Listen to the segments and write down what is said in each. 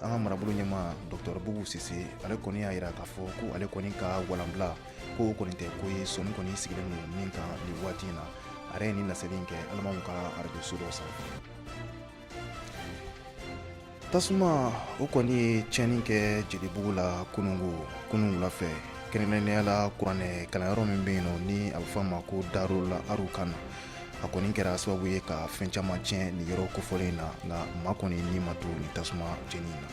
an ka marabolo ɲɛma dɔgɔtɔrɔ bubu sise ale kɔni y'a yira k'a fɔ ko ale kɔni ka walanbila ko o kɔni tɛ ko ye sɔni kɔni sigilen don min kan nin waati in na a yɛrɛ ye nin laseli in kɛ alimaw ka arajoso dɔ sanfɛ tasuma o kɔni ye tiɲɛni kɛ jelibugu la kunun wula fɛ kɛrɛnkɛrɛnnenya la kuranɛ kalanyɔrɔ min bɛ yen nɔ ni a bɛ fɔ a ma ko darul arukan na a kɔni kɛra sababu ye ka fɛn caman tiɲɛ nin yɔrɔ kofɔlen in na nka maa kɔni ni ma to nin tasuma jeni na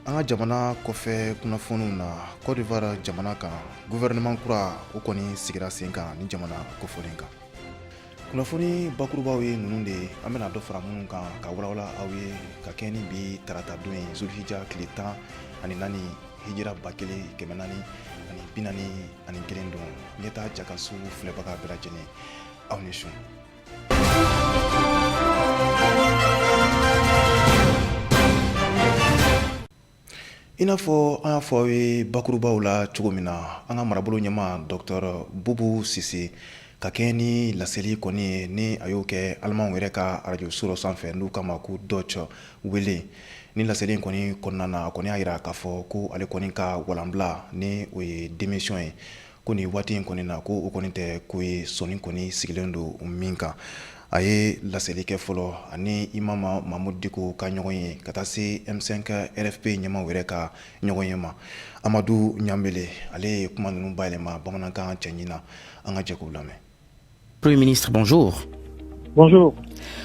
an ka jamana kɔfɛ kunnafoniw na kɔdiwara jamana kan gouvernement kura o kɔni sigira sen kan ni jamana kofɔlen kan kunnafoni bakurubaw ye ninnu de an bɛna dɔ fara minnu kan ka walawala aw ye ka kɛɲɛ ni bi tarata don ye zulhija tile tan ani naani hijira ba kelen kɛmɛ naani ani bi naani ani kelen don ɲɛtaa jakanso filɛbaga bɛɛ lajɛlen aw ni su i n'a fɔ an y'a fɔ aw ye bakurubaw la cogo min na an ka marabolo ɲɛma dɔktɔr bubu sise ka kɛɲɛ ni laseli kɔni ye ni a y'o kɛ alimaw yɛrɛ ka arajoso dɔ sanfɛ n'u k'a ma ko deutsche welle Ni laseli in kɔni kɔnɔna na a kɔni y'a yira k'a fɔ ko ale kɔni ka walanbila ni o ye démission ye ko nin waati in kɔni na ko o kɔni tɛ ko ye sɔni kɔni sigilen don min kan a ye laseli kɛ fɔlɔ ani imam mamudu diko ka ɲɔgɔn ye ka taa se M5 RFP ɲɛmaw yɛrɛ ka ɲɔgɔn ye ma amadu ɲanbele ale ye kuma ninnu bayɛlɛma bamanankan cɛɲin na an ka jɛ k'u lamɛn Premier ministre, bonjour. Bonjour.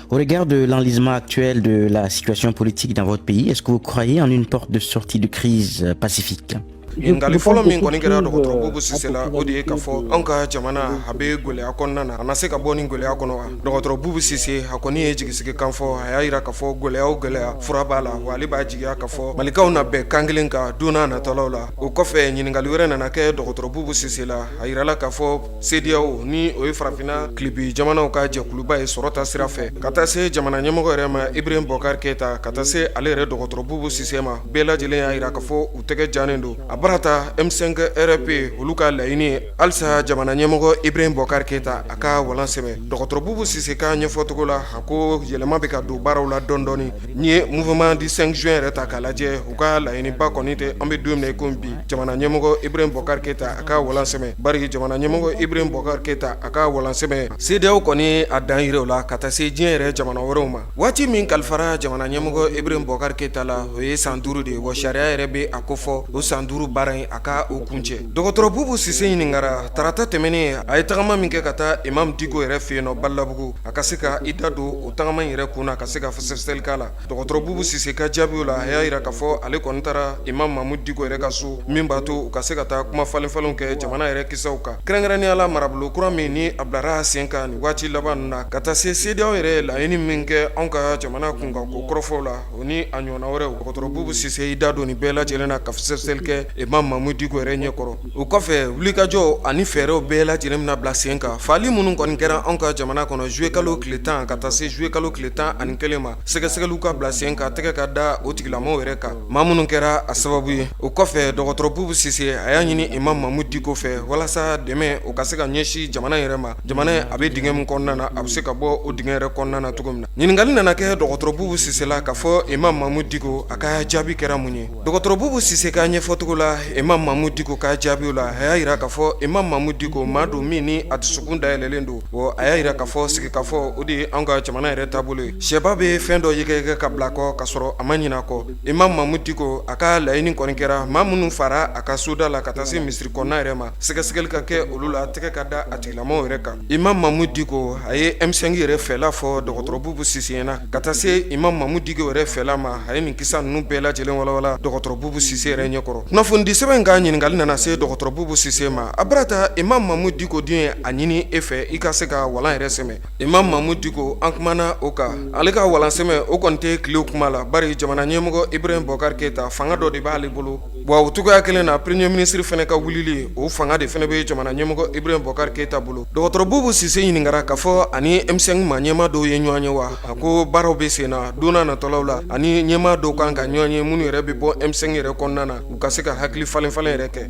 Au regard de l'enlisement actuel de la situation politique dans votre pays, est-ce que vous croyez en une porte de sortie de crise euh, pacifique ɲininkali fɔlɔ min kɔni kɛra dɔgɔtɔrɔ bubu sise la o de ye k'a fɔ anw ka jamana a bɛ gwɛlɛya kɔnɔna na a na se ka bɔ nin gwɛlɛya kɔnɔ wa dɔgɔtɔrɔ bubu sise a kɔni ye jigisigi kan fɔ a y'a yira k'a fɔ gwɛlɛya o gwɛlɛya fura b'a la wa ale b'a jigiya k'a fɔ malikaw na bɛn kan kelen kan don n'a natɔlaw la o kɔfɛ ɲininkali wɛrɛ nana kɛ dɔgɔtɔrɔ bubu sise la a yirala k'a fɔ CEDEAO ni o ye farafinna tilebin jamanaw ka jɛkuluba ye sɔrɔta sira fɛ ka taa se jamana ɲɛmɔgɔ yɛrɛ ma ibrahim bɔkari keyita ka taa se ale yɛrɛ dɔgɔtɔrɔ bubu sise ma bɛɛ lajɛlen y'a yira k'a fɔ u tɛgɛ jannen don a bara ta M5 RFP olu ka laɲini ye halisa jamana ɲɛmɔgɔ ibrahim bɔkari keyita a ka walan sɛmɛ dɔgɔtɔrɔ bubu sise ka ɲɛfɔcogo la a ko yɛlɛma bɛ ka don baaraw la dɔndɔɔni N'i ye mouvement du cinq juin yɛrɛ ta k'a lajɛ u ka laɲiniba kɔni tɛ an bɛ don min na i ko bi jamana ɲɛmɔgɔ ibrahim bɔkari keyita a ka walan sɛmɛ bari jamana ɲɛmɔgɔ ibrahim bɔkari keyita a ka walan sɛmɛ CEDEAO kɔni a dan yira o la ka taa se diɲɛ yɛrɛ jamana wɛrɛw ma waati min kalifara jamana ɲɛmɔgɔ ibrahim bɔkari keyita la o ye san duuru de ye wa sariya yɛrɛ bɛ a kofɔ o san duuru baara in a ka o kuncɛ dɔgɔtɔrɔ bubu sise ɲininkara tarata tɛmɛnen a ye tagama min kɛ ka taa imam diko yɛrɛ fɛ yen nɔ balabugu a ka se ka i da don tagama in yɛrɛ kun na ka se ka fɛsɛfɛsɛli k'a la dɔgɔtɔrɔ Bubu Sise ka jaabiw la a y'a jira k'a fɔ ale kɔni taara Imam Mamudu Diko yɛrɛ ka so min b'a to u ka se ka taa kuma falenfalenw kɛ jamana yɛrɛ kisaw kan kɛrɛnkɛrɛnnenya la marabolo kura min ni a bilara sen kan nin waati laban ninnu na ka taa se CEDEAO yɛrɛ ye laɲini min kɛ anw ka jamana kunkanko kɔrɔfɔw la o ni a ɲɔgɔnna wɛrɛw dɔgɔtɔrɔ Bubu Sise y'i da don nin bɛɛ lajɛlen na ka fɛsɛfɛsɛli kɛ Imam Mamudu Diko yɛrɛ ɲɛkɔrɔ o kɔfɛ wulikajɔw ani fɛɛrɛw bɛɛ lajɛlen bɛna bila sen kan fagali minnu kɔni kɛra anw ka jamana kɔnɔ zuyekalo tile tan ka taa se zuyekalo tile tan ani kelen ma sɛgɛsɛgɛliw ka bila sen kan tɛgɛ ka da o tigilamaaw yɛrɛ kan maa minnu kɛra a sababu ye o kɔfɛ dɔgɔtɔrɔ Bubu Sise a y'a ɲini Imam Mamudu Diko fɛ walasa dɛmɛ o ka se ka ɲɛsin jamana yɛrɛ ma jamana ye a bɛ dingɛ min kɔnɔna na a bɛ se ka bɔ o dingɛ yɛrɛ kɔnɔna na cogo min na ɲininkakali nana kɛ dɔgɔtɔrɔ Bubu Sise la k'a fɔ Imam Mamudu Diko a ka jaabi kɛra mun ye Dɔgɔtɔrɔ Bubu Sise ka ɲɛfɔcogo la Imam Mamudu Diko ka jaabiw la a y'a jira k'a fɔ Imam Mamudu Diko maa don min ni a dusukun dayɛlɛlen don bɔn a y'a jira k'a fɔ sigikafɔ o de ye anw ka jamana yɛrɛ taabolo ye shɛba bɛ fɛn dɔ yɛgɛyɛgɛ k'a bila kɔ ka sɔrɔ a ma ɲina a kɔ Imam Mamudu Diko a ka laɲini kɔni kɛra maa minnu faara a ka soda la ka taa se misiri kɔnɔna yɛrɛ ma sɛgɛsɛgɛli ka kɛ olu la tɛgɛ ka da a tigilamaaw yɛrɛ kan Imam Mamudu Diko a ye Ɛmisɛnki yɛrɛ fɛla fɔ dɔgɔtɔrɔ Bubu Sise ɲɛna ka taa se Imam Mamudu Diko yɛrɛ fɛla ma a ye nin kisa ninnu bɛɛ lajɛlen walawala dɔgɔtɔrɔ Bubu Sise yɛrɛ ɲɛkɔrɔ kunnafonidisɛbɛn ka ɲininkali nana se dɔgɔtɔrɔ Bubu Sise ma a barata Imam Mamudu Diko dun ye a ɲini e fɛ i ka se ka walan yɛrɛ sɛmɛ Imam Mamudu Diko an kumana o kan ale ka walansɛmɛ o kɔni tɛ tile kuma la bari jamana ɲɛmɔgɔ Ibrahim Bɔkari Keyita fanga dɔ de b'ale bolo wa u cogoyaya kelen na premeye minisiriri fana ka wuli o fanga de fana bɛ ye jamana ɲɛmɔgɔ ib bɔkari keyita bolo dɔgɔtɔrɔbubu sisanse ɲininkaka ka fɔ ani emisɛn ma ɲɛma dɔw ye ɲɔgɔn ye wa a ko baaraw bɛ sen na don natɔlaw la ani ɲɛma dɔw kan ka ɲɔgɔn ye minnu yɛrɛ bɛ bɔ emisɛn yɛrɛ kɔnɔna na u ka se ka hakili falen-falen yɛrɛ kɛ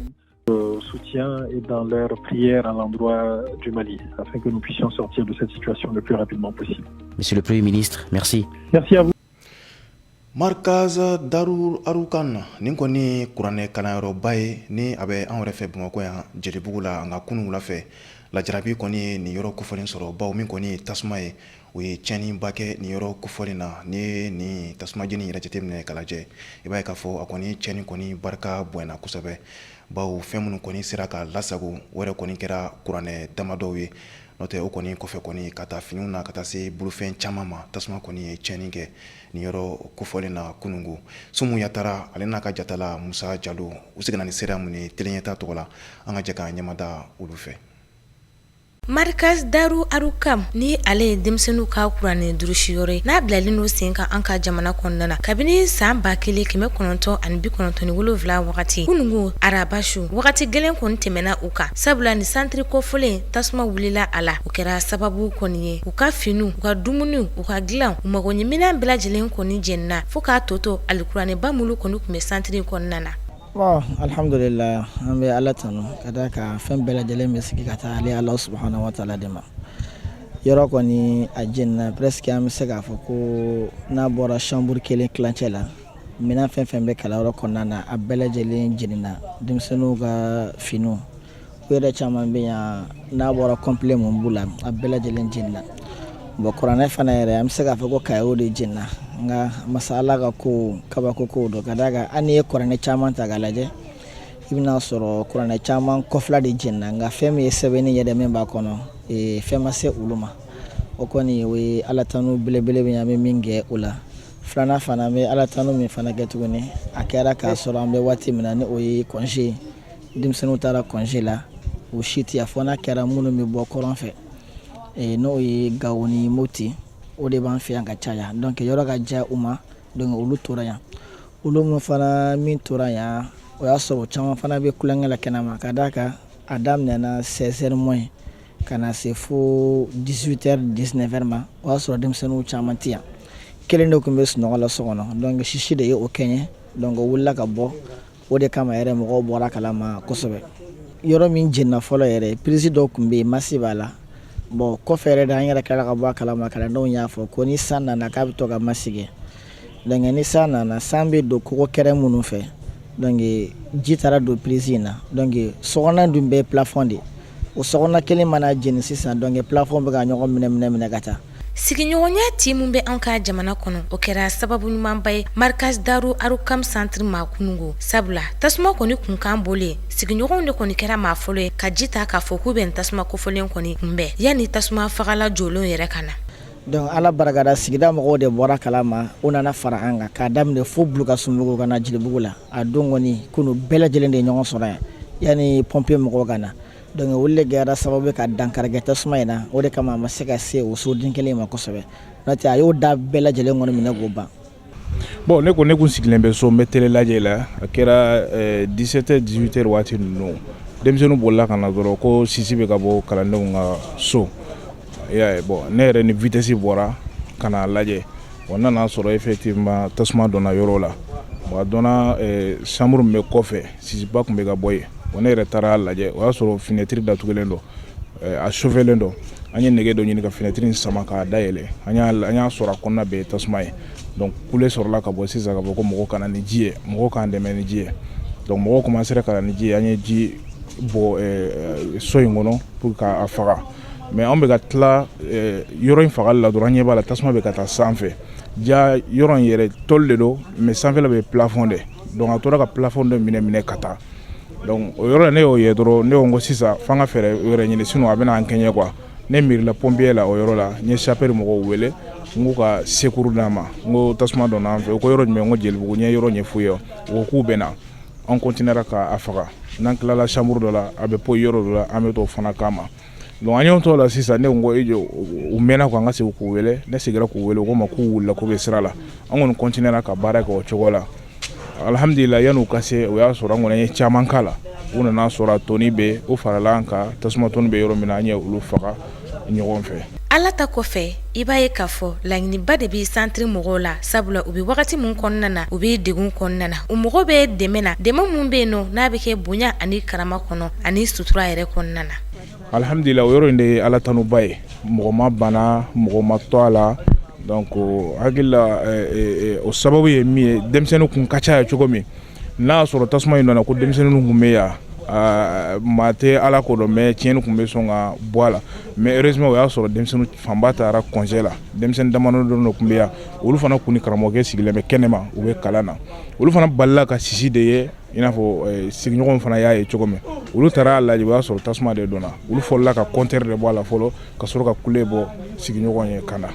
misi Marikaz Darul Arukam nin kɔni ye kuranɛ kalanyɔrɔba ye ni a bɛ anw yɛrɛ fɛ Bamakɔ yan Jelibugu la nka kunun wula fɛ lajarabi kɔni ye nin yɔrɔ kofɔlen sɔrɔ bawo min kɔni ye tasuma ye o ye tiɲɛniba kɛ nin yɔrɔ kofɔlen na n'i ye nin tasuma jeni yɛrɛ jateminɛ k'a lajɛ i b'a ye k'a fɔ a kɔni tiɲɛni kɔni barika bonyana kosɛbɛ bawo fɛn minnu kɔni sera ka lasago o yɛrɛ kɔni kɛra kuranɛ damadɔw ye n'o tɛ o kɔni kɔfɛ kɔni ka taa finiw na ka taa se bolofɛn caman ma tasuma kɔni ye tiɲɛni kɛ nin yɔrɔ kofɔlen na kununko Sumu Yatara ale n'a ka jatala Musa Jalo u seginna ni seereya min ye Tele Ɲɛta tɔgɔ la an ka jɛ k'an ɲɛmada olu fɛ Marikaz Daru Arukam ni ale ye denmisɛnninw ka kuranɛ durusi yɔrɔ ye n'a bilalen don sen kan an ka jamana kɔnɔna na kabini san ba kelen kɛmɛ kɔnɔntɔn ani bi kɔnɔntɔn ni wolonwula wagati kununko araba su wagati gɛlɛn kɔni tɛmɛna u kan sabula ni santiri kofɔlen tasuma wulila a la o kɛra sababu kɔni ye u ka finiw u ka dumuniw u ka dilan u magoɲɛminɛn bɛɛ lajɛlen kɔni jɛnina fo k'a tɔ to alikuranɛba minnu kɔni tun bɛ santiri kɔnɔna na Bon, alhamdulillah an bɛ Ala tanu ka d'a kan fɛn bɛɛ lajɛlen bɛ sigi ka taa ale Ala subhanahu wa taala de ma yɔrɔ kɔni a jɛnina presque an bɛ se k'a fɔ ko n'a bɔra chambre kelen tilancɛ la minɛn fɛn fɛn bɛ kalanyɔrɔ kɔnɔna na a bɛɛ lajɛlen jenina denmisɛnninw ka finiw u yɛrɛ caman bɛ yan n'a bɔra complet mun b'u la a bɛɛ lajɛlen jenina bon kuranɛ fana yɛrɛ an bɛ se k'a fɔ ko kayew de jenina nka masa ala ka ko kabako ko don ka d'a kan hali n'i ye kuranɛ caman ta k'a lajɛ i bɛna sɔrɔ kuranɛ caman kɔ fila de jenina nka fɛn min ye sɛbɛnni yɛrɛ min b'a kɔnɔ e, fɛn ma se olu ma o kɔni o ye ala tanu belebele bɛ an bɛ min kɛ o la filanan fana an bɛ ala tanu min fana kɛ tuguni a kɛra k'a sɔrɔ an bɛ waati min na ni o ye congé ye denmisɛnninw taara congé la u si tɛ yan fo n'a kɛra minnu bɛ bɔ kɔrɔn fɛ n'o ye Gawo ni Moti o de b'an fɛ yan ka caya donc yɔrɔ ka jan u ma donc olu tora yan olu min fana min tora yan o y'a sɔrɔ caman fana bɛ tulonkɛ la kɛnɛma ka d'a kan a daminɛna seize heures moins ka na se fo dix-huit heures dix-neuf heures ma o y'a sɔrɔ denmisɛnninw caman tɛ yan kelen de tun bɛ sunɔgɔ la so kɔnɔ donc sisi de ye o kɛɲɛ donc o wulila ka bɔ o de kama yɛrɛ mɔgɔw bɔra kalama kosɛbɛ yɔrɔ min jenina fɔlɔ yɛrɛ prise dɔ tun bɛ yen masse b'a la bon kɔfɛ yɛrɛ de an yɛrɛ kɛra ka bɔ kalama kalandenw y'a fɔ ko ni san nana k'a bɛ to ka masse donc ni san nana san bɛ don kogo kɛrɛ minnu fɛ ji taara don prise in na donc so dun bɛɛ ye plafond de o so kelen mana jeni sisan donc plafond bɛ ka ɲɔgɔn minɛ minɛ minɛ ka taa sigiɲɔgɔnya ti min bɛ an ka jamana kɔnɔ o kɛra sababu ɲumanba ye Markaz Daru Arukam santiri ma kunungo sabula tasuma kɔni kunkan bɔlen sigiɲɔgɔnw de kɔni kɛra maa fɔlɔ ye ka ji ta k'a fɔ k'u bɛ tasuma kofɔlen kɔni kunbɛn yanni tasuma fagala jɔlenw yɛrɛ ka na donc ala barikada sigida mɔgɔw de bɔra kalama u nana fara an kan k'a daminɛ fo Bulukasunbugu ka na Jelibugu la a don kɔni kunu bɛɛ lajɛlen de ye ɲɔgɔn sɔrɔ yan yanni pompier mɔgɔw ka na Donc olu de kɛra sababu ka dankarikɛ tasuma in na o de kama a ma se ka se o soden kelen ma kosɛbɛ a y'o da bɛɛ lajɛlen kɔni minɛ k'o ban bon ne tun sigilen bɛ so n bɛ télé lajɛ la a kɛra dix-sept heures dix-huit heures waati ninnu denmisɛnninw bolila ka na dɔrɔn ko sisi bɛ ka bɔ kalandenw ka so bon ne yɛrɛ ni vitesse bɔra ka na a lajɛ bon n nan'a sɔrɔ effectivement tasuma donna yɔrɔ la bon a donna chambre bɛ kɔfɛ Sisiba tun bɛ ka bɔ yen bon ne yɛrɛ taara lajɛ o y'a sɔrɔ finɛtiri datugulen don a sofɛlen don an ye nɛgɛ dɔ ɲini ka finɛtiri in sama k'a dayɛlɛ an y'a sɔrɔ a kɔnɔna bɛɛ ye tasuma ye kule sɔrɔla ka bɔ sisan k'a fɔ ko mɔgɔw ka na ni ji ye mɔgɔw k'an dɛmɛ ni ji ye dɔnku mɔgɔw commencera ka na ni ji ye an ye ji bɔn so in kɔnɔ pour k'a faga mais an bɛ ka tila yɔrɔ in faga la dɔrɔn an ɲɛ b'a la tasuma bɛ ka taa sanfɛ ja yɔrɔ in yɛrɛ tɔli de don mais sanfɛla bɛɛ plafond de donc a tora ka plafond de minɛ minɛ ka taa donc o yɔrɔ la ne y'o ye dɔrɔn ne ko ko sisan f'an ka fɛɛrɛ wɛrɛ ɲini sinon a bɛna an kɛɲɛ quoi ne miirila pompier la o yɔrɔ la n ye sapeur mɔgɔw wele n k'u ka secours d'an ma n ko tasuma donna an fɛ u ko yɔrɔ jumɛn n ko jelibugu n ye yɔrɔ ɲɛf'u ye u ko k'u bɛ na an continuera k'a faga n'an tilala chambre dɔ la a bɛ poyi yɔrɔ dɔ la an bɛ t'o fana kama Donc an y'o t'o la sisan ne ko u mɛnna ko an ka segin k'u wele ne seginna k'u wele u ko n ma k'u wulila k'u bɛ sira la an kɔni continuera ka baara kɛ o cogo la alihamdulila yann'u ka se o y'a sɔrɔ an kɔni ye caman k'a la u nana sɔrɔ a tɔnin bɛ u farala an kan tasuma tɔnin bɛ yɔrɔ min na an ye olu faga ɲɔgɔn fɛ ala ta kɔfɛ i b'a ye k'a fɔ laɲiniba de bɛ santiri mɔgɔw la sabula u bɛ wagati min kɔnɔna na u bɛ degun kɔnɔna na u mago bɛ dɛmɛ na dɛmɛ min bɛ yen nɔ n'a bɛ kɛ bonya ani karama kɔnɔ ani sutura yɛrɛ kɔnɔna na alihamdulila o yɔrɔ in de ye ala tanuba ye mɔgɔ ma bana mɔgɔ ma to a la donc hakilila o sababu ye min ye denmisɛnninw kun ka ca yan cogo min n'a y'a sɔrɔ tasuma in nana ko denmisɛnninw tun bɛ yan maa tɛ ala ko dɔn mais tiɲɛni tun bɛ sɔn ka bɔ a la mais heureusement o y'a sɔrɔ denmisɛnninw fanba taara congé la denmisɛnnin damadɔ dɔ tun bɛ yan olu fana tun ni karamɔgɔkɛ sigilen bɛ kɛnɛma u bɛ kalan na olu fana balila ka sisi de ye i n'a fɔ sigiɲɔgɔnw fana y'a ye cogo min olu taara y'a lajɛ o y'a sɔrɔ tasuma de don olu fɔlɔla ka compteur de bɔ a la fɔlɔ ka sɔrɔ ka kule bɔ sigiɲɔgɔn ye ka na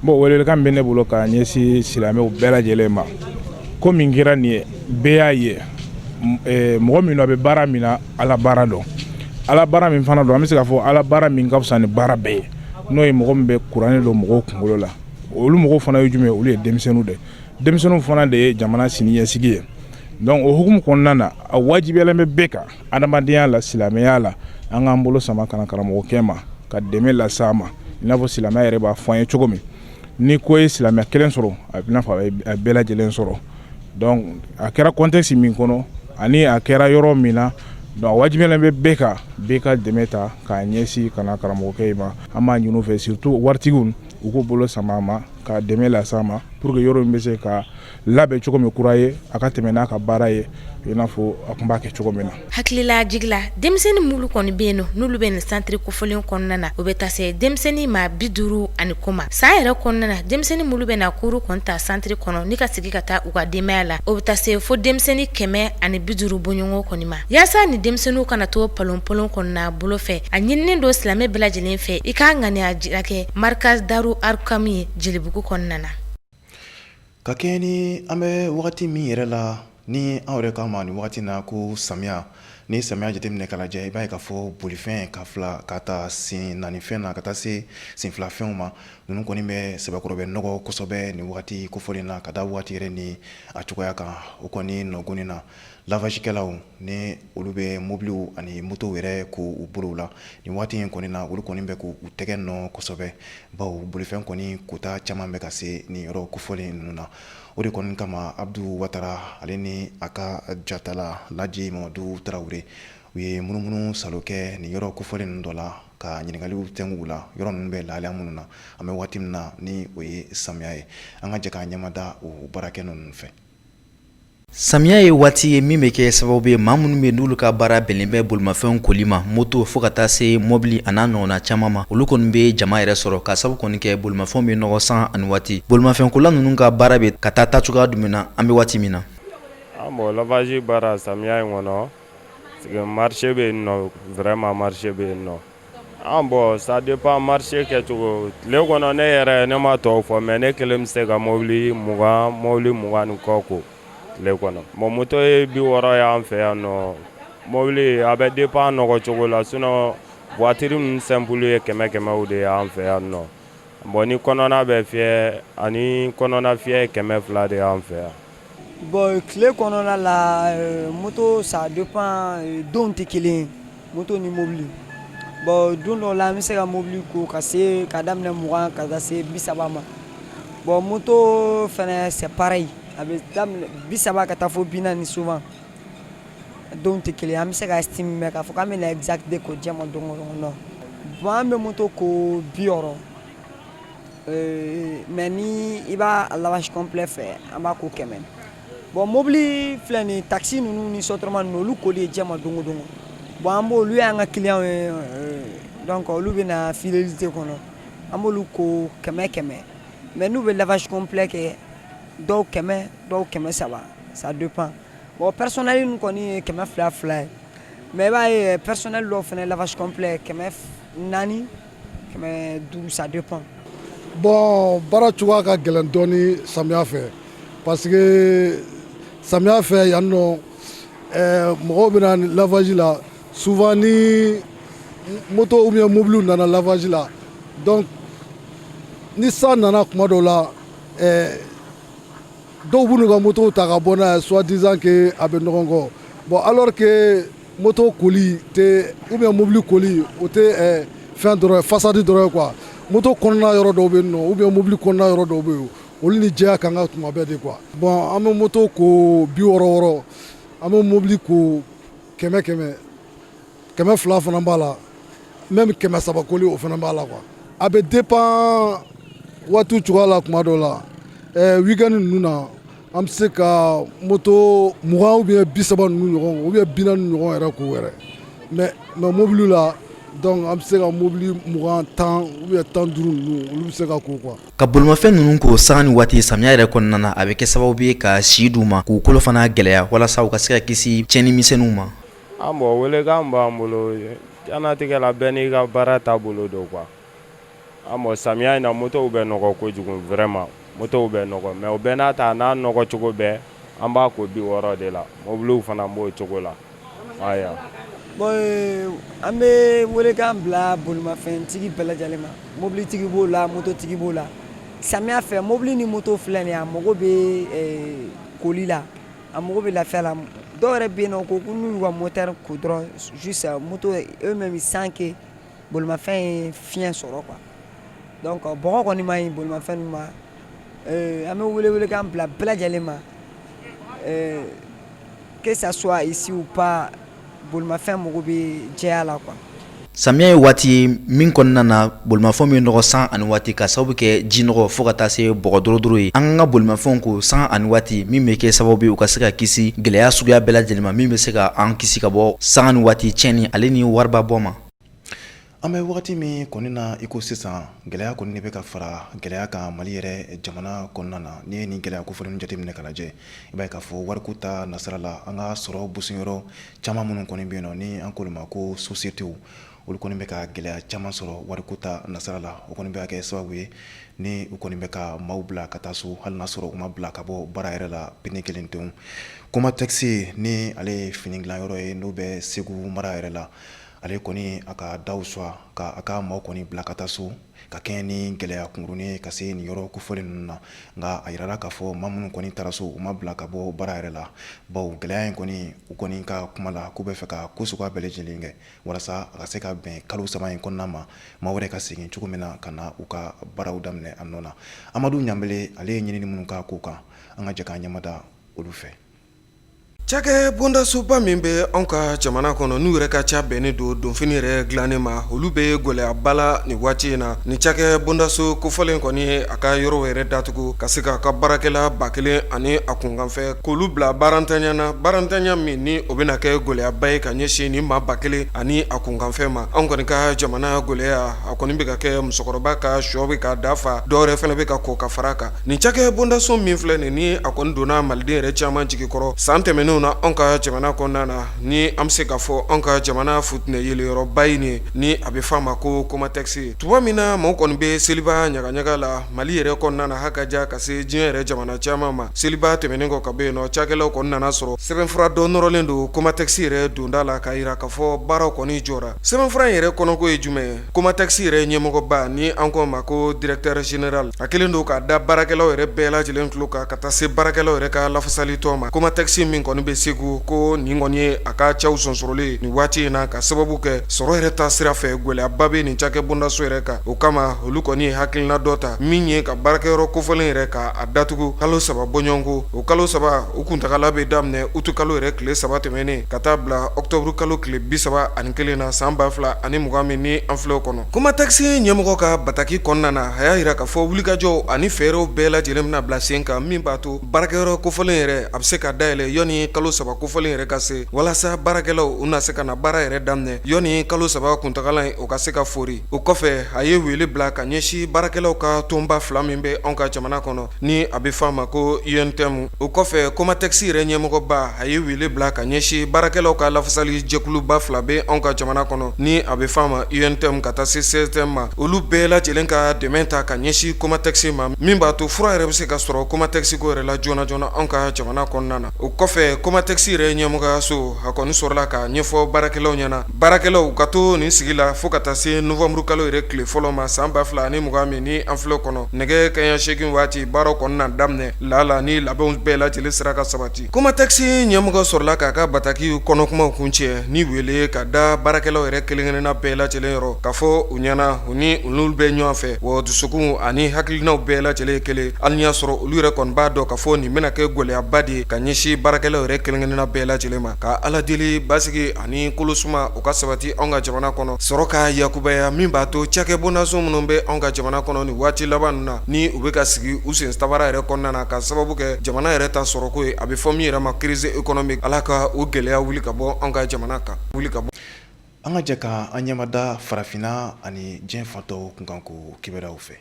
Bon welelikan bɛ ne bolo ka ɲɛsin silamɛw bɛɛ lajɛlen ma ko min kɛra nin ye bɛɛ y'a ye mɔgɔ min a bɛ baara min na ala baara don ala baara min fana don an bɛ se k'a fɔ ala baara min ka fisa ni baara bɛɛ ye n'o ye mɔgɔ min bɛ kuranɛ don mɔgɔw kunkolo la olu mɔgɔw fana ye jumɛn ye olu ye denmisɛnninw de denmisɛnninw fana de ye jamana siniɲɛsigi ye o hukumu kɔnɔna na a wajibiyalen bɛ bɛɛ kan adamadenya la silamɛya la an k'an bolo sama ka na karamɔgɔkɛ ma ka dɛmɛ lase a ma i n'a fɔ silamɛya yɛrɛ b'a fɔ an ye cogo min ni ko ye silamɛ kelen sɔrɔ a bɛ n'a fɔ a bɛɛ lajɛlen sɔrɔ donc a kɛra contexte min kɔnɔ ani a kɛra yɔrɔ min na donc a wajibiyalen bɛ bɛɛ kan bɛɛ ka dɛmɛ ta k'a ɲɛsin ka na karamɔgɔkɛ in ma an b'a ɲin'u fɛ surtout waritigiw u k'u bolo sama a ma ka dɛmɛ lase a ma pour que yɔrɔ in bɛ se ka labɛn cogo min kura ye a ka tɛmɛ n'a ka baara ye i n'a fɔ a tun b'a kɛ cogo min na hakililajigin na denmisɛnnin mulu kɔni bɛ yen nɔ n'olu bɛ nin santiri kofɔlen kɔnɔna na o bɛ taa se denmisɛnnin maa bi duuru ani kɔ ma san yɛrɛ kɔnɔna na denmisɛnnin mulu bɛ na kuru kɔni ta santiri kɔnɔ ni ka segin ka taa u ka denbaya la o bɛ taa se fo denmisɛnnin kɛmɛ ani bi duuru bɔɲɔgɔn kɔni ma yaasa ni denmisɛnninw kana to palonpalon kɔnɔna bolo fɛ a ɲininen don silamɛ bɛɛ lajɛlen fɛ i ka ŋaniya jira kɛ markaz daru arkam ye jelibugu kɔnɔna na Ka kɛ ni an bɛ wagati min yɛrɛ la ni anw yɛrɛ k'a ma nin wagati na ko samiya ni samiya jateminɛ k'a lajɛ i b'a ye k'a fɔ bolifɛn ka fila k'a ta sen naanifɛn na ka taa se sen filafɛnw ma ninnu kɔni bɛ sɛbɛkɔrɔ bɛ nɔgɔ kosɛbɛ nin wagati kofɔlen na ka da wagati yɛrɛ ni a cogoya kan o kɔni nɔgɔni na lavagekɛlaw ni olu bɛ mobiliw ani motow yɛrɛ ko u bolow la nin waati in kɔni na olu kɔni bɛ k'u tɛgɛ nɔ kosɛbɛ bawo bolifɛn kɔni kota caman bɛ ka se nin yɔrɔ kofɔlen ninnu na o de kɔni kama abudu watara ale ni a ka jatala laji mamadu tarawele u ye munumunusaalo kɛ nin yɔrɔ kofɔlen ninnu dɔ la ka ɲininkaliw kɛ u la yɔrɔ ninnu bɛ lahalaya minnu na an bɛ waati min na ni o ye samiya ye an ka jɛ k'a ɲɛmada o baarakɛ ninnu fɛ Samiya ye waati ye min bɛ kɛ sababu ye maa minnu bɛ n'olu ka baara bɛnnen bɛ bolimafɛnw koli ma moto fo ka taa se mɔbili ani n'a ɲɔgɔnna caman ma olu kɔni bɛ jama yɛrɛ sɔrɔ k'a sababu kɔni kɛ bolimafɛnw bɛ nɔgɔ san nani waati bolimafɛnkola ninnu ka baara bɛ ka taa taacogoya jumɛn na an bɛ waati min na bon lavage baara samiya in kɔnɔ marché bɛ yen nɔ vraiment marché bɛ yen nɔ An bon ça dépend marché kɛcogo tile kɔnɔ ne yɛrɛ ne ma tɔw fɔ mais ne kelen bɛ se ka mɔbili mugan mɔbili mugan ni kɔ ko tile kɔnɔ bon moto ye bi wɔɔrɔ y'an fɛ yan nɔ mɔbili a bɛ dépend nɔgɔ cogo la sinon voiture ninnu simple ye kɛmɛ kɛmɛw de y'an fɛ yan nɔ bon ni kɔnɔna bɛ fiyɛ ani kɔnɔna fiyɛ ye kɛmɛ fila de y'an fɛ yan Bon tile kɔnɔna la euh, moto ça dépend euh, donw tɛ kelen ye moto ni mobili bon don dɔw la an bɛ se ka mobili ko ka se ka daminɛ mugan ka taa se bi saba ma bon moto fɛnɛ c'est pareil a bɛ daminɛ bi saba ka taa fo bi naani souvent donw tɛ kelen ye an bɛ se ka estimer mais k'a fɔ k'an bɛ na exact de ko diɲɛ ma don o don non bon an bɛ moto ko bi wɔɔrɔ Ee mais ni i b'a lavage complet fɛ an b'a ko kɛmɛ bon mɔbili filɛ nin taxi ninnu ni sotrama ninnu olu koli ye diɲɛ ma don o don bon an b'olu y'an ka client ye donc olu bɛ na fidélité kɔnɔ an b'olu ko kɛmɛ kɛmɛ mais n'u bɛ lavage complet kɛ dɔw kɛmɛ dɔw kɛmɛ saba ça dépend bon personnel in kɔni ye kɛmɛ fila fila ye mais i b'a ye personnel dɔ fana lavage complet kɛmɛ naani kɛmɛ duuru ça dépend bon baara cogoya ka gɛlɛn dɔɔni samiya fɛ parce que samiya fɛ yan nɔ eh, mɔgɔw bɛ na lavage la souvent ni moto ou bien mobile nana lavage la donc ni san nana kuma dɔw la eh, dɔw b'u n'u ka motow ta ka bɔ n'a ye soi-disant que a bɛ nɔgɔ encore bon alors que Moto koli tɛ ou bien mobili koli o tɛ fɛn dɔrɔn façade dɔrɔn ye quoi moto kɔnɔna yɔrɔ dɔw bɛ yen nɔ ou bien mobili kɔnɔna yɔrɔ dɔw bɛ yen olu ni jɛya kan ka tuma bɛɛ de quoi bon an bɛ moto ko bi wɔɔrɔ wɔɔrɔ an bɛ mobili ko kɛmɛ kɛmɛ kɛmɛ fila fana b'a la même kɛmɛ saba koli o fana b'a la quoi a bɛ dépend waati cogoya la kuma dɔw la weekend ninnu na An bɛ se ka moto mugan ou bien bi saba ninnu ɲɔgɔn ou bien bi naani ɲɔgɔn yɛrɛ ko yɛrɛ mais mobili la donc an bɛ se ka mobili mugan tan ou bien tan duuru ninnu olu bɛ se ka ko quoi ka bolomafɛn ninnu ko sanga ni waati samiya yɛrɛ kɔnɔna na a bɛ kɛ sababu ye ka si d'u ma k'u kolo fana gɛlɛya walasa u ka se ka kisi tiɲɛni misɛnninw ma ah bon welekan b'an bolo diɲɛnatigɛ la bɛɛ n'i ka baara taabolo don quoi Ah bon samiya in na motow bɛ nɔgɔ kojugu vraiment motow bɛ nɔgɔ mais o bɛɛ n'a ta n'a nɔgɔ cogo bɛɛ an b'a ko bi wɔɔrɔ de la mobiliw fana b'o cogo la an bɛ welekan bila bolomafɛntigi bɛɛ lajɛlen ma mobilitigi b'o la mototigi b'o la samiya fɛ mobili ni moto filɛ nin a mago bɛ koli la a mago bɛ lafiya la dɔw yɛrɛ bɛ yen nɔ ko n'u y'u ka moteur ko dɔrɔn juste moto eux-mêmes sans que Bolomafɛn ye fiɲɛ sɔrɔ quoi donc bɔgɔ kɔni man ɲi bolomafɛn ninnu ma an bɛ wele welekan bila bɛɛ lajɛlen ma que ça soit ici ou pas bolomafɛn mago bɛ jɛya la quoi samiya ye waati ye min kɔnɔna na bolomafɛn bɛ nɔgɔ sanga ni waati ka sababu kɛ ji nɔgɔ fo ka taa se bɔgɔ dɔrɔdɔrɔ ye an ka bolomafɛnw ko sanga ni waati min bɛ kɛ sababu ye u ka se ka kisi gɛlɛya suguya bɛɛ lajɛlen ma min bɛ se ka an kisi ka bɔ sanga ni waati tiɲɛni ale ni wariba bɔ ma An bɛ waati min kɔni na i ko sisan gɛlɛya kɔni de bɛ ka fara gɛlɛya kan Mali yɛrɛ jamana kɔnɔna na n'i ye nin gɛlɛya kofɔlen jate minɛ ka lajɛ i b'a ye k'a fɔ wariko ta nasira la an ka sɔrɔ bɔyɔrɔ caman minnu kɔni bɛ yen nɔ ni an k'olu ma ko sociétés olu kɔni bɛ ka gɛlɛya caman sɔrɔ wariko ta nasira la o kɔni bɛ kɛ sababu ye ni u kɔni bɛ ka maaw bila ka taa so hali n'a sɔrɔ u ma bila ka bɔ baara yɛrɛ la pelenkete COMATEX ni ale ye fini dilan yɔrɔ ye n'o bɛ Segu mara yɛrɛ la ale kɔni a ka da sɔgɔ k'a ka maaw kɔni bila ka taa so ka kɛɲɛ ni gɛlɛya kunurunnen ka se nin yɔrɔ kofɔlen ninnu na nka a jirara k'a fɔ maa minnu kɔni taara so u ma bila ka bɔ baara yɛrɛ la bawo gɛlɛya in kɔni u kɔni ka kuma la k'u bɛ fɛ ka ko sugu bɛɛ lajɛlen kɛ walasa a ka se ka bɛn kalo saba in kɔnɔna ma maa wɛrɛ ka segin cogo min na ka na u ka baaraw daminɛ a nɔ na amadu ɲanbele ale ye ɲinini minnu k'a ko kan an ka jɛ k'an ɲɛmada olu fɛ Cakɛ bondasoba min bɛ anw ka jamana kɔnɔ n'u yɛrɛ ka ca bɛnnen don donfini yɛrɛ dilanen ma olu bɛ gɛlɛyaba la nin waati in na ni cakɛ bondaso kofɔlen kɔni ye a ka yɔrɔ yɛrɛ datugu ka se k'a ka baarakɛla ba kelen ani a kunkanfɛ k'olu bila baarantanya na baarantanya min ni o bɛna kɛ gɛlɛyaba ye ka ɲɛsin nin maa ba kelen ani a kunkanfɛ ma anw kɔni ka jamana gɛlɛya a kɔni bɛ ka kɛ musokɔrɔba ka shɔ bɛ ka daa fa dɔ wɛrɛ fana bɛ ka kɔ ka fara kan Nin cakɛ bondaso min filɛ nin ni a kɔni donna maliden yɛrɛ caman jigi kɔrɔ san tɛmɛnenw na anw ka jamana kɔnɔna na ni an bɛ se k'a fɔ anw ka jamana futinɛ yeleyɔrɔba in ye ni a bɛ f'a ma ko kɔmatɛsi tuma min na mɔgɔ kɔni bɛ seliba ɲagaɲaga la mali yɛrɛ kɔnɔna na ha ka ja ka se diɲɛ yɛrɛ jamana caman ma seliba tɛmɛnen kɔ ka bɔ yen nɔ cakɛlaw kɔni nana sɔrɔ sɛbɛnfura dɔ nɔrɔlen don kɔmatɛsi yɛrɛ donda la ka jira k'a fɔ baaraw kɔni jɔra sɛbɛnfura in yɛrɛ kɔnɔko ye jumɛn ye Komatɛsi yɛrɛ ɲɛmɔgɔba ni an k'o ma ko directeur général a kɛlen don k'a da baarakɛlaw yɛrɛ bɛɛ lajɛlen tulo kan ka taa se baarakɛlaw yɛrɛ ka lafasali tɔn ma kɔmatɛsi min kɔni bɛ segu ko nin kɔni ye a ka caw sonsorolen nin waati in na k'a sababu kɛ sɔrɔ yɛrɛ ta sira fɛ gɛlɛyaba bɛ nin cakɛ bondaso yɛrɛ kan o kama olu kɔni ye hakilina dɔ ta min ye ka baarakɛyɔrɔ kofɔlen yɛrɛ ka a datugu kalo saba bɔɲɔgɔnko o kalo saba u kuntaala bɛ daminɛ utu kalo yɛrɛ tile saba tɛmɛnen ka taa bila ɔkutɔburu kalo tile bi saba ani Kelen na san ba fila ani mugan min ni an filɛ kɔnɔ kɔmatɛsi ɲɛmɔgɔ ka bataki kɔnɔna na a y'a jira k'a fɔ wulikajɔw ani fɛɛrɛw bɛɛ lajɛlen bɛna bila sen kan min b'a to baarakɛyɔrɔ kofɔlen yɛrɛ a bɛ se ka dayɛlɛ yanni kalo saba kofɔlen yɛrɛ ka se walasa baarakɛlaw u na se ka na baara yɛrɛ daminɛ yanni kalo saba kuntaala in o ka se ka fori o kɔfɛ a ye wele bila ka ɲɛsin baarakɛlaw ka tɔnba fila min bɛ an ka jamana kɔnɔ Ni a bɛ f'a ma ko UNTM o kɔfɛ COMATEX yɛrɛ ɲɛmɔgɔba a ye wele bila ka ɲɛsin baarakɛlaw ka lafasali jɛkuluba fila bɛ anw ka jamana kɔnɔ ni a bɛ f'a ma UNTM ka taa se CSTM ma olu bɛɛ lajɛlen ka dɛmɛn ta ka ɲɛsin COMATEX ma min b'a to fura yɛrɛ bɛ se ka sɔrɔ COMATEX ko yɛrɛ la joona joona anw ka jamana kɔnɔna na o kɔfɛ COMATEX yɛrɛ ɲɛmɔgɔyaso a kɔni sɔrɔla k'a ɲɛfɔ baarakɛlaw ɲɛna baarakɛlaw ka to nin sigi la fo ka taa se nowanburu kalo yɛrɛ tile fɔlɔ ma san ba fila ni mugan min ni an filɛ kɔnɔ nɛgɛ kanɲɛ seegin waati baaraw kɔni na daminɛ lala ni labɛnw bɛɛ lajɛlen sera ka sabati kɔmatɛsi ɲɛmɔgɔ sɔrɔla k'a ka bataki kɔnɔkumaw kuncɛ ni wele ka da baarakɛlaw yɛrɛ kelenkelenna bɛɛ lajɛlen yɔrɔ k'a fɔ u ɲɛna u ni olu bɛ ɲɔgɔn fɛ wa dusukun ani hakilinaw bɛɛ lajɛlen kelen hali y'a sɔrɔ olu yɛrɛ kɔni b'a dɔn k'a fɔ nin bɛna kɛ gɛlɛyaba de ye ka ɲɛsin baarakɛlaw yɛrɛ kelenkelenna bɛɛ lajɛlen ma ka ala deli basi ani kolosuma u ka sabati anw ka jamana kɔnɔ sɔrɔ ka yakubaya min b'a to cakɛ bɔnnaso minnu bɛ anw ka jamana kɔnɔ ni waati laban na ni u bɛ ka sigi u sen ta baara yɛrɛ kɔnɔna na ka sababu kɛ jamana yɛrɛ ta sɔrɔko ye a bɛ fɔ min yɛrɛ ma crise économique ala ka o gɛlɛya wuli ka bɔ anw ka jamana kan wuli ka bɔ an ka jɛ ka an ɲɛmada farafinna ani diɲɛ fan tɔw kunkanko kibaruyaw fɛ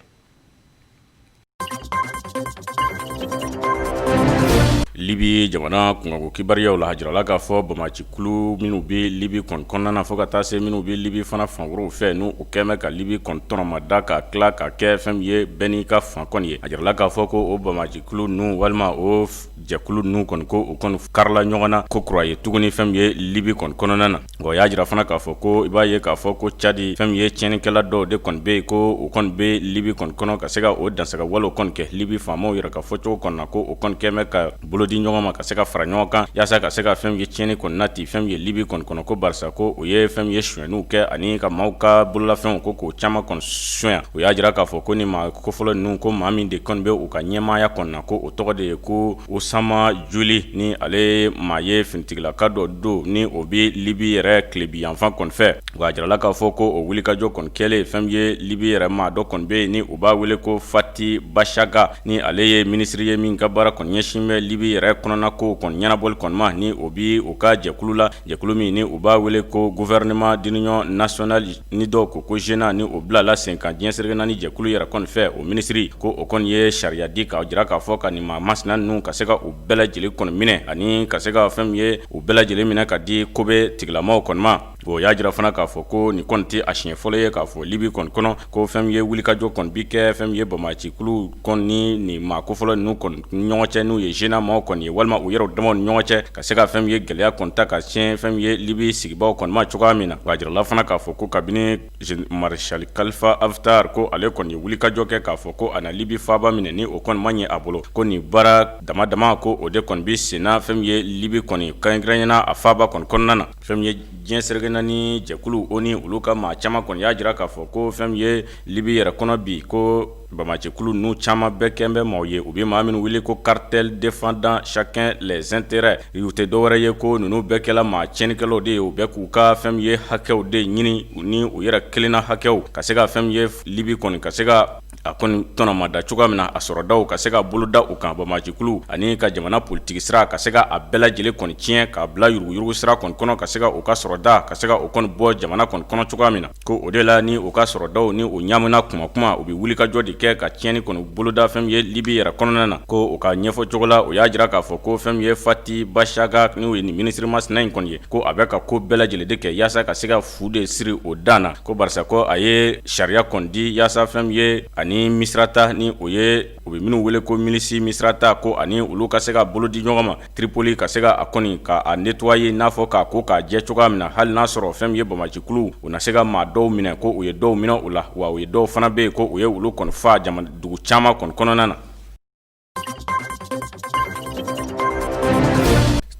libi jamana kunkanko kibaruyaw la a jirala k'a fɔ bamacikulu minnu bɛ libi kɔni kɔnɔna na fo ka taa se minnu bɛ libi fana fan wɛrɛw fɛ ni u kɛmɛ ka libi kɔni tɔnɔmada ka tila ka kɛ fɛn min ye bɛɛ n'i ka fan kɔni ye a jirala k'a fɔ ko o bamacikulu ninnu walima o jɛkulu ninnu kɔni ko u kɔni karila ɲɔgɔn na ko kura ye tuguni fɛn min ye libi kɔni kɔnɔna na o y'a jira fana k'a fɔ ko i b'a ye k'a fɔ ko cadi fɛn min ye tiɲɛnikɛla dɔw de kɔni bɛ yen ko o kɔni bɛ libi kɔni kɔnɔ ka se ka o dansaga walew kɔni kɛ libi faamaw yɛrɛ ka fɔcogo kɔni na ko o kɔni kɛmɛ ka bolo di ɲɔgɔn ma ka se ka fara ɲɔgɔn kan yaasa ka se ka fɛn min ye tiɲɛni kɔni nati fɛn min ye libi kɔni kɔnɔ ko barisa ko u ye fɛn min ye sonyaniw kɛ ani ka maaw ka bololafɛnw ko k'o caman kɔni sonya o y'a jira k'a fɔ ko nin maa kofɔlen ninnu ko maa min de kɔni bɛ u ka ɲɛmaaya kɔni na ko o tɔgɔ de ye ko osama juli ni ale maa ye finitigilaka dɔ don ni o bɛ libi yɛrɛ tilebi yanfan kɔni fɛ wa a jirala k'a fɔ ko o wulikajɔ kɔni kɛlen fɛn min ye libi yɛrɛ maa dɔ kɔni bɛ yen ni u b'a wele ko fati bashaga ni ale ye minisiri ye min ka baara kɔni ɲɛsin bɛ libi yɛrɛ kɔnɔnakow kɔni ɲɛnabɔli kɔni ma ni o bɛ u ka jɛkulu la jɛkulu min ni u b'a wele ko gouvernement d'union nationale ni dɔw ko ko GNA ni o bilala sen kan diɲɛ serege naani jɛkulu yɛrɛ kɔni fɛ o minisiri ko o kɔni ye sariya di k'a jira k'a fɔ ka nin maa masina ninnu ka se ka u bɛɛ lajɛlen kɔni minɛ ani ka se ka fɛn min ye u bɛɛ lajɛlen minɛ ka di ko bɛ tigilamaw kɔni ma o y'a jira fana k'a fɔ ko nin kɔni tɛ a siɲɛ fɔlɔ ye k'a fɔ libi kɔni kɔnɔ ko fɛn min ye wulikajɔ kɔni bi kɛ fɛn min ye bamacikuluw kɔni ni nin maa kofɔlen ninnu kɔni ɲɔgɔn cɛ n'u ye GNA maaw kɔni ye walima u yɛrɛ damaw ni ɲɔgɔn cɛ ka se ka fɛn min ye gɛlɛya kɔni ta ka sin fɛn min ye libi sigibaaw kɔni ma cogoya min na wa a jirala fana k'a fɔ ko kabini marisali kalifa haftar ko ale kɔni ye wulikajɔ kɛ k'a fɔ ko a na libi faaba minɛ ni o kɔni ma ɲɛ a bolo ko nin baara dama dama ko o de kɔni bɛ senna fɛn min ye libi kɔni kɛrɛnkɛrɛnya na a faaba kɔni kɔnɔna na Fɛn min ye diɲɛ serege naani jɛkulu o ni olu ka maa caman kɔni y'a jira k'a fɔ ko fɛn min ye libi yɛrɛ kɔnɔ bi ko bamacikulu ninnu caman bɛɛ kɛ bɛ maaw ye u bɛ maa minnu wele ko cartel défendant chacun les intérêts u tɛ dɔwɛrɛ ye ko ninnu bɛɛ kɛla maa tiɲɛnikɛlaw de ye u bɛ k'u ka fɛn min ye hakɛw de ɲini ni u yɛrɛ kelenna hakɛw ka se ka fɛn min ye libi kɔni ka se ka a kɔni tɔnɔmada cogoya min na a sɔrɔdaw ka se ka boloda u kan banbaancikulu ani ka jamana politigi sira ka se k'a bɛɛ lajɛlen kɔni tiɲɛ k'a bila yuruguyurugu sira kɔni kɔnɔ ka se ka u ka sɔrɔda ka se ka o kɔni bɔ jamana kɔni kɔnɔ cogoya min na ko o de la ni u ka sɔrɔdaw ni u ɲaamina kuma kuma u bɛ wulikajɔ de kɛ ka tiɲɛni kɔni boloda fɛn min ye libi yɛrɛ kɔnɔna na ko u ka ɲɛfɔcogo la u y'a jira k'a fɔ ko fɛn min ye fati bashaga n'o ye nin minisiri masina in kɔni ye ko a bɛ ka ko bɛɛ lajɛlen de kɛ yaasa ka se Fu de siri o dan na ko barisa ko a ye sariya kɔni di yaasa fɛn min ye ani misirata ni o ye u bɛ minnu wele ko milisi misirata ko ani olu ka se ka bolo di ɲɔgɔn ma tiripoli ka se ka a kɔni ka a nettoyer n'a fɔ k'a ko k'a jɛ cogoya min na hali n'a sɔrɔ fɛn min ye banbaancikulu u na se ka maa dɔw minɛ ko u ye dɔw minɛ u la wa u ye dɔw fana bɛ yen ko u ye olu kɔni faa jamana dugu caman kɔni kɔnɔna na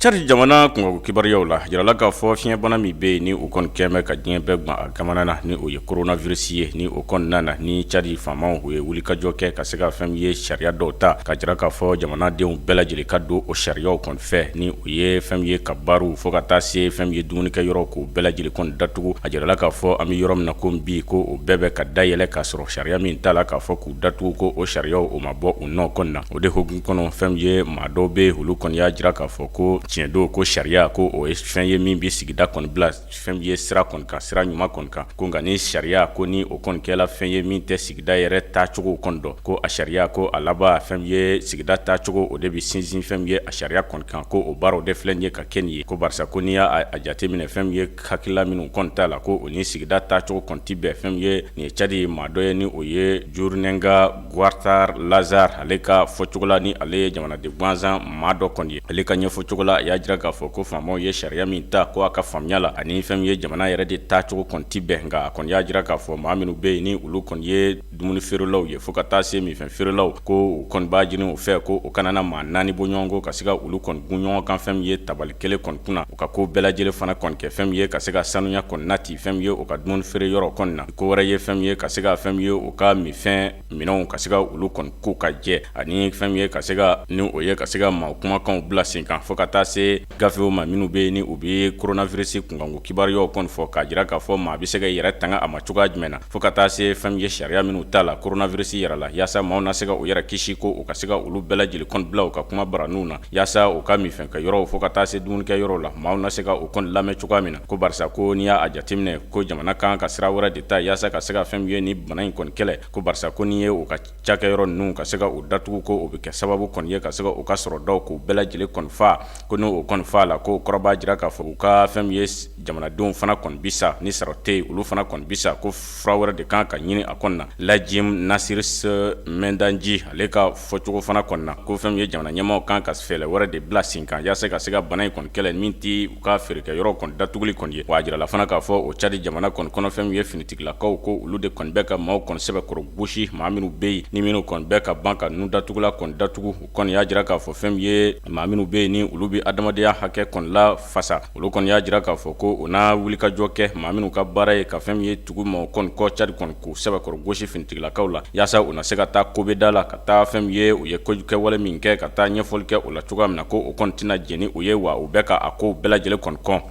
Cadi jamana kungo kibaruyaw la jirala k'a fɔ fiɲɛbana min bɛ yen ni o kɔni kɛmɛ ka diɲɛ bɛɛ gan a kamana na ni o ye coronavirus ye ni o kɔni nana ni cadi faamaw u ye wulikajɔ kɛ ka se ka fɛn min ye sariya dɔw ta k'a jira k'a fɔ jamanadenw bɛɛ lajɛlen ka don o sariyaw kɔni fɛ ni o ye fɛn min ye kabarew fo ka taa se fɛn min ye dumunikɛ yɔrɔ k'o bɛɛ lajɛlen kɔni datugu a jirala k'a fɔ an bɛ yɔrɔ min na ko bi ko o bɛɛ bɛ ka dayɛlɛ k'a sɔrɔ sariya min tala k'a fɔ k' datugu ko o sariyaw o ma bɔ u nɔ kɔni na o de hukumu kɔnɔ fɛn min ye maa dɔw bɛ olu kɔni y'a jira k'a fɔ ko tiɲɛ don ko sariya ko o ye fɛn ye min bɛ sigida kɔni bila fɛn min ye sira kɔni kan sira ɲuman kɔni kan ko nka ni sariya ko ni o kɔni kɛla fɛn ye min tɛ sigida yɛrɛ taacogo kɔni dɔn ko a sariya ko a laban fɛn min ye sigida taacogo o de bɛ sinsin fɛn min ye a sariya kɔni kan ko o baaraw de filɛ ye ka kɛ nin ye ko barisa ko n'i y'a jateminɛ fɛn ye Hakilila minnu kɔni tala ko o ni sigida taacogo kɔni ti bɛn fɛn min ye nin ye cadi maa dɔ ye ni o ye Djourninga Kaoutar Lazare ale ka fɔcogo la ni ale ye jamanaden gansan maa dɔ kɔni ye ale ka ɲɛfɔcogo la a y'a jira k'a fɔ ko faamaw ye sariya min ta ko a ka faamuya la ani fɛn min ye jamana yɛrɛ de taacogo kɔni ti bɛn nka a kɔni y'a jira k'a fɔ maa minnu bɛ yen ni olu kɔni ye dumuni feerelaw ye fo ka taa se minfɛn feerelaw ko u kɔni b'a ɲini u fɛ ko u kana na maa naani bɔɲɔgɔnko ka se ka olu kɔni gun ɲɔgɔn kan fɛn min ye tabali kelen kɔni kunna u ka ko bɛɛ lajɛlen fana kɔni kɛ fɛn min ye ka se ka sanuya kɔni nati fɛn min ye u ka dumuni feere yɔrɔ kɔni na ko wɛrɛ ye fɛn min ye ka se ka fɛn min ye u ka minfɛn minɛnw ka se ka olu kɔni ko ka jɛ ani fɛn min ye ka se ka ni o ye ka se ka maa kumakanw bila sen kan fo ka taa se gafew ma minnu bɛ yen ni u bɛ coronavirus kunkanko kibaruyaw kɔni fɔ k'a jira k'a fɔ maa bɛ se ka i yɛrɛ tanga a ma cogoya jumɛn na fo ka taa se fɛn min ye sariya minnu tala coronavirus yɛrɛ la yaasa maaw na se ka u yɛrɛ kisi ko u ka se ka olu bɛɛ lajɛlen kɔni bila u ka kuma baraninw na yaasa u ka minfɛn kɛ yɔrɔw fo ka taa se dumunikɛ yɔrɔw la maaw na se ka u kɔni lamɛn cogoya min na ko barisa ko n'i y'a jateminɛ ko jamana kan ka sira wɛrɛ de ta yaasa ka se ka fɛn min ye nin bana in kɔni kɛlɛ ko barisa ko n'i ye o ka cakɛyɔrɔ ninnu ka se ka u datugu ko o bɛ kɛ sababu kɔni ye ka se ka u ka sɔrɔ dɔw k'u bɛɛ lajɛlen kɔni faa ko n'o kɔni faala ko o kɔrɔ b'a jira k'a fɔ u ka fɛn min ye jamanadenw fana kɔni bi sa ni sɔrɔ tɛ yen olu fana kɔni bi sa ko fura wɛrɛ de kan ka ɲini a kɔni na lajim nasir mɛndanji ale ka fɔcogo fana kɔni na ko fɛn min ye jamana ɲɛmaaw kan ka fɛɛrɛ wɛrɛ de bila sen kan yaasa ka se ka bana in kɔni kɛlɛ min tɛ U ka feerekɛyɔrɔ kɔni datuguli kɔni ye wa a jirala fana k'a fɔ o cadi jamana kɔni kɔnɔ fɛn min ye finitigilakaw ko olu de kɔni bɛ ka maaw kɔni sɛbɛkɔrɔ gosi maa minnu bɛ yen ni minnu kɔni bɛ ka ban ka ninnu datugula kɔni datugu u kɔni y'a jira k'a fɔ fɛn min ye maa minnu bɛ yen ni olu bɛ adamadenya hakɛ kɔni lafasa olu kɔni y'a jira k'a fɔ ko u na wulikajɔ kɛ maa minnu ka baara ye ka fɛn min ye tugu maaw kɔni kɔ cadi kɔni k'u sɛbɛkɔrɔ gosi finitigilakaw la yaasa u na se ka taa kobɛda la ka taa fɛn min ye u ye kojukɛwale min kɛ ka taa ɲɛfɔli kɛ o la cogoya min na ko o kɔni tɛna jɛni u ye wa u bɛ ka a ko bɛɛ lajɛlen kɔni kɔn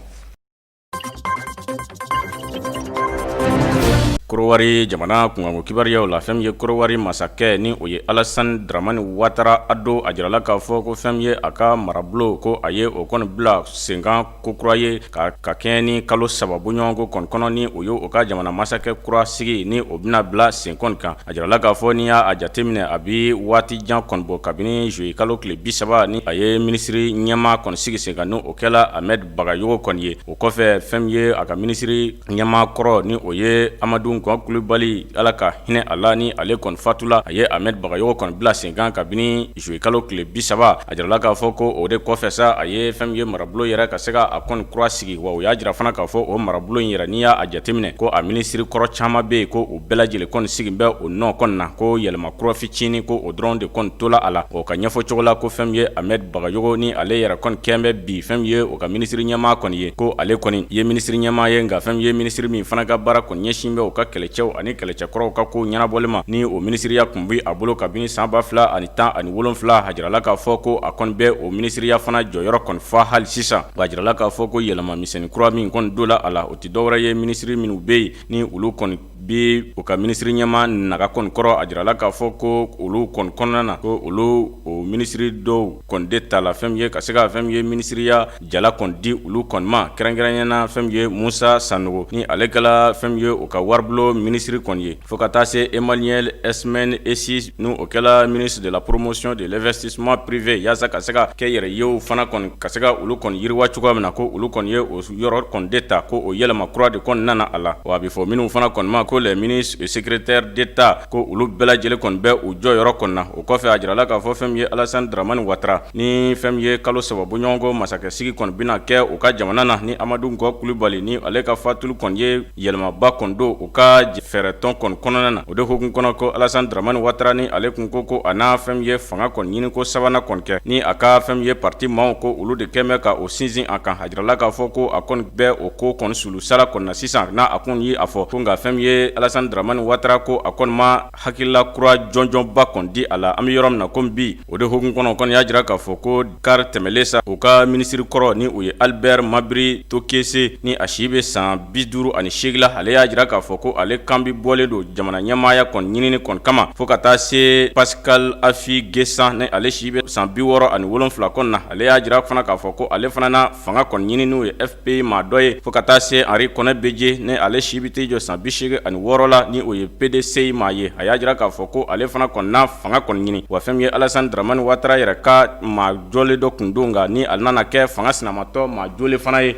korowari jamana kunkanko kibaruyaw la fɛn min ye korowari masakɛ ni o ye alasan dramani watara a don a jirala k'a fɔ ko fɛn min ye a ka marabolo ko a ye o kɔni bila sen kan kokura ye ka kɛɲɛ ni kalo saba bɔɲɔgɔnko kɔni kɔnɔ ni o ye o ka jamana masakɛ kura sigi ni o bɛna bila sen kɔni kan a jirala k'a fɔ n'i y'a jateminɛ a bɛ waati jan kɔni bɔ kabini zuye kalo tile bisaba ni a ye minisiri ɲɛmaa kɔni sigi sen kan n'o kɛla amɛdi bagayogo kɔni ye o kɔfɛ fɛn min ye a ka minisiri ɲɛmaa kɔrɔ ni o ye amadu gɔn kulubali ala ka hinɛ a la ni ale kɔni fatula a ye amɛdi bagayogo kɔni bila sen kan kabini juillet kalo tile 30 a jirala k'a fɔ ko o de kɔfɛ sa a ye fɛn min ye marabolo yɛrɛ ka se ka a kɔni kura sigi wa u y'a jira fana k'a fɔ o marabolo in yɛrɛ n'i y'a jateminɛ ko a minisiri kɔrɔ caman bɛ yen ko u bɛɛ lajɛlen kɔni sigin bɛ o nɔ kɔni na ko yɛlɛma kura fitinin ko o dɔrɔn de kɔni tola a la o ka ɲɛfɔcogo la ko fɛn min ye Ahmed Bagayogo ni ale yɛrɛ kɔni kɛlen bɛ bi fɛn min ye o ka minisiri ɲɛmaa kɔni ye ko ale kɔni ye minisiri ɲɛmaa ye nka fɛn min ye minisiri min fana ka baara kɔni ɲɛsin bɛ o ka kɛlɛcɛw ani kɛlɛcɛkɔrɔw ka kow ɲɛnabɔli ma ni o minisiriya n bɛ a bolo kabini san ba fila ani tan ani wolonfila a jirala k'a fɔ ko a kɔni bɛ o minisiriya fana jɔyɔrɔ kɔni fa hali sisan a jirala k'a fɔ ko yɛlɛma misɛn kura min kɔni don la a la o tɛ dɔwɛrɛ ye minisiri minnu bɛ yen ni olu kɔni bɛ u ka minisiri ɲɛmaa naga kɔni kɔrɔ a jirala k'a fɔ ko olu kɔni kɔnɔna na ko olu o minisiri dɔw kɔni de tala fɛn min ye ka se ka fɛn min ye minisiriya Jala kɔnni di olu kɔnni ma kɛrɛnkɛrɛnya la fɛn min ye Musa Sanogo ni ale kɛla fɛn min ye u ka waribulon minisiri kɔnni ye fo ka taa se Emaniɛl Esmɛn Esi ni o kɛla ministre de la promotion de l'investissement privé yaasa ka se ka kɛnyɛrɛyew fana kɔnni ka se ka olu kɔnni yiriwa cogoya min na ko olu kɔnni ye o yɔrɔ kɔnni de ta ko o yɛlɛma kura de kɔnni nana a la wa a bɛ fɔ minnu fana kɔnni ma ko les ministres et secrétaires d'État ko olu bɛɛ lajɛlen kɔnni bɛ u jɔyɔrɔ kɔnni na o kɔfɛ a jirala k'a fɔ fɛn min ye Alasani Daramani Watara Ni fɛn min ye kalo saba bɔɲɔgɔnko masakɛsigi kɔni bɛna kɛ u ka jamana na ni amadu gɔn kulubali ni ale ka fatuli kɔni ye yɛlɛmaba kɔni don u ka fɛɛrɛtɔn kɔni kɔnɔna na o de hukumu kɔnɔ ko alasani dramani watara ni ale tun ko ko a na fɛn min ye fanga kɔni ɲini ko sabanan kɔni kɛ ni a ka fɛn min ye pati maaw ko olu de kɛlen bɛ ka o sinsin a kan a jirala k'a fɔ ko a kɔni bɛ o ko kɔnɔsolu sara kɔnɔna na sisan n'a a kun y' a fɔ ko nka fɛn min ye alasani dramani watara ko a kɔni ma Hakilila kura jɔnjɔnba kɔni di a la an bɛ yɔrɔ min na komi bi o de hukumu kɔnɔ kɔni y'a jira k'a fɔ ko kari tɛmɛlen sa u ka minisiri kɔrɔ ni o ye alibɛri mabiri tokese ni a si bɛ san bi duuru ani seegin la ale y'a jira k'a fɔ ko ale kan bi bɔlen don jamana ɲɛmaaya kɔni ɲinini kɔni kama fo ka taa se pasikali afi gesan ni ale si bɛ san bi wɔɔrɔ ani wolonwula kɔni na ale y'a jira fana k'a fɔ ko ale fana na fanga kɔni ɲini n'o ye PI maa dɔ ye fo ka taa se Henri Konan Bédié ni ale si bɛ t'i jɔ san bi seegin ani wɔɔrɔ la ni o ye PDCI maa ye a y'a jira k'a fɔ ko ale fana kɔni na fanga kɔni ɲini wa fɛn min ye Alassane Dramane Ouattara yɛrɛ ka maa jɔlen dɔ tun don nka ni ale nana kɛ fanga sinamatɔn maa jɔlen fana ye.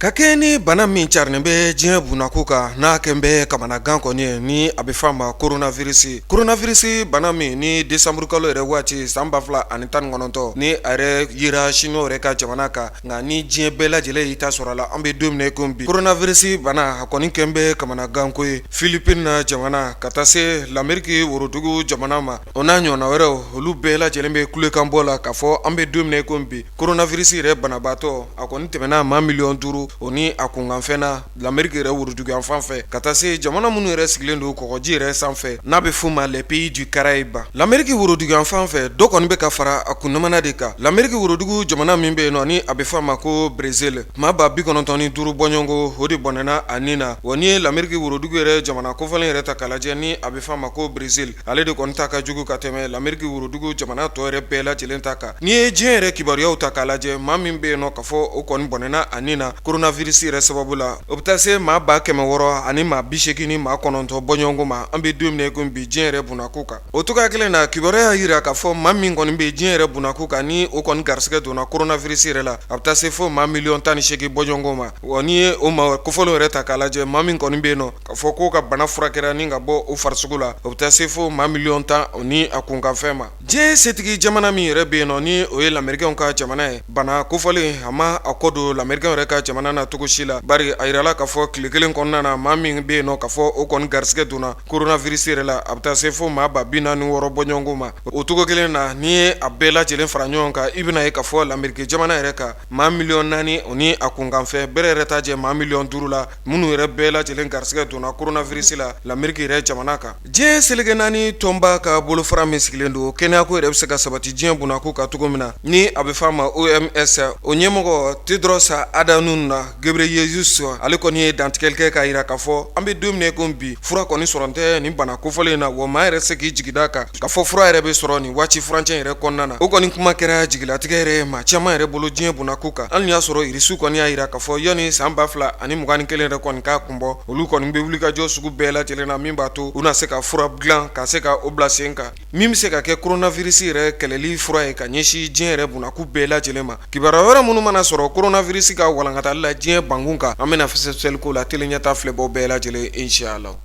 ka kɛɲɛ ni bana min carinen bɛ diɲɛ bunako kan n'a kɛlen bɛ kamanagan kɔni ye ni a bɛ f' a ma koronavirisi koronavirisi bana min ni desanburu kalo yɛrɛ waati san ba fila ani tan ni kɔnɔntɔn ni a yɛrɛ yera sinuwa yɛrɛ ka jamana kan nka ni diɲɛ bɛɛ lajɛlen y'i ta sɔrɔ a la an bɛ don min na i ko bi koronavirisi bana a kɔni kɛlen bɛ kamanaganko ye filipini na jamana ka taa se lameriki worodugu jamana ma o n'a ɲɔgɔnna wɛrɛw olu bɛɛ lajɛlen bɛ kulekan bɔ la k'a fɔ an bɛ don min na i ko bi Koronavirisi yɛrɛ banabaatɔ a kɔni tɛmɛna maa miliyɔn duuru o ni a kunkanfɛn na lameriki yɛrɛ woroduguyanfan fɛ ka taa se jamana minnu yɛrɛ sigilen don kɔgɔji yɛrɛ sanfɛ n'a bɛ f'u ma les pays du Caraïbe lameriki woroduguyanfan fɛ dɔ kɔni bɛ ka fara a kunnamana de kan lameriki worodugu jamana min bɛ yen nɔ ni a bɛ f' a ma ko berezili maa ba bi kɔnɔntɔn ni duuru bɔɲɔgɔnko o de bɔnɛna a ni na wa n'i ye lameriki worodugu yɛrɛ jamana kofɔlen yɛrɛ ta k'a lajɛ ni a bɛ f' a ma ko berezili ale de kɔni ta ka jugu ka tɛmɛ lameriki worodugu jamana tɔw yɛrɛ bɛɛ lajɛlen ta kan n'i ye diɲɛ yɛrɛ kibaruyaw ta k'a lajɛ maa min bɛ yen nɔ k'a fɔ o kɔni bɔnɛna a ni na koronavirisi yɛrɛ sababu la o bɛ taa se maa ba kɛmɛ wɔɔrɔ ani maa bi segin ni maa kɔnɔntɔn bɔɲɔgɔnko ma an bɛ don min na ko bi diɲɛ yɛrɛ bunako kan o cogoya kelen na kibaruya y'a jira k'a fɔ maa min kɔni bɛ diɲɛ yɛrɛ bunako kan ni o kɔni garisɛgɛ donna koronavirisi yɛrɛ la a bɛ taa se fo maa miliyɔn tan ni segin bɔɲɔgɔnko ma wa n'i ye o maa kofɔlen yɛrɛ ta k'a lajɛ maa min kɔni bɛ yen nɔ K'a fɔ k'o ka bana furakɛra ni ka bɔ o farisogo la o bɛ taa se fo maa miliyɔn tan o ni a kunkanfɛn ma diɲɛ setigi jamana min yɛrɛ bɛ yen nɔ ni o ye lamerikɛnw ka jamana ye bana kofɔlen a ma a kɔ don lamerikɛnw yɛrɛ ka jamana na cogo si la bari a jirala k'a fɔ tile kelen kɔnɔna na maa min bɛ yen nɔ k'a fɔ o kɔni garisɛgɛ donna koronavirisi yɛrɛ la a bɛ taa se fo maa ba bi naani ni wɔɔrɔ bɔɲɔgɔnko ma o cogo kelen na n'i ye a bɛɛ lajɛlen fara ɲɔgɔn kan i bɛna ye k'a fɔ lameriki jamana yɛrɛ kan maa miliyɔn naani o ni a kunkanfɛn bɛrɛ yɛrɛ t'a jɛ maa miliyɔn duuru la minnu yɛrɛ bɛɛ lajɛlen garisɛgɛ donna kurunavirisi la lameriki yɛrɛ jamana kan diɲɛ seleke naani tɔnba ka bolofara min sigilen don kɛnɛyako yɛrɛ bɛ se ka sabati diɲɛ bɔnnako kan cogo min na ni a bɛ f'a ma OMS o ɲɛmɔgɔ Tedros Adhanom Ghebreyesus ale kɔni ye dantigɛli kɛ k'a jira k'a fɔ an bɛ don min na ko bi fura kɔni sɔrɔ tɛ nin bana kofɔlen in na wa maa yɛrɛ se k'i jigi da kan K'a fɔ fura yɛrɛ bɛ sɔrɔ nin waati furancɛ yɛrɛ kɔnɔna na o kɔni kuma kɛra jigilatigɛ yɛrɛ ye maa caman yɛrɛ bolo diɲɛ bɔnnako kan hali n'i y'a sɔrɔ irisiw kɔni y'a jira k'a fɔ yanni san ba fila ani mugan ni kelen yɛrɛ kɔni k'a kun bɔ olu kɔni bɛ wulikajɔ sugu bɛɛ lajɛlen na min b'a to u na se ka fura dilan ka se ka o bila sen kan min bɛ se ka kɛ kurunavirisi yɛrɛ kɛlɛli fura ye ka ɲɛsin diɲɛ yɛrɛ bɔnnako bɛɛ lajɛlen ma kibaru wɛrɛ minnu mana sɔrɔ kurunavirisi ka walankatali la diɲɛ bankun kan an bɛna fɛsɛfɛsɛli k'o la tele ɲɛta filɛbɔ bɛɛ lajɛlen inshallah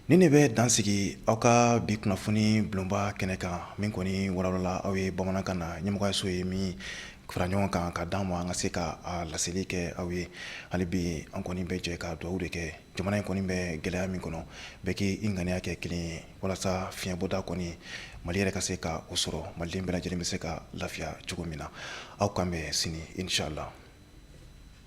Nin de bɛ dansigi aw ka bi kunnafoni bulonba kɛnɛ kan min kɔni walawalala aw ye bamanankan na ɲɛmɔgɔyaso ye min fara ɲɔgɔn kan k'a d'an ma an ka se ka laseli kɛ aw ye hali bi an kɔni bɛ jɛ ka dugawu de kɛ jamana in kɔni bɛ gɛlɛya min kɔnɔ bɛɛ k'i ŋaniya kɛ kelen ye walasa fiɲɛbɔda kɔni mali yɛrɛ ka se ka o sɔrɔ maliden bɛɛ lajɛlen bɛ se ka lafiya cogo min na aw k'an bɛn sini inshallah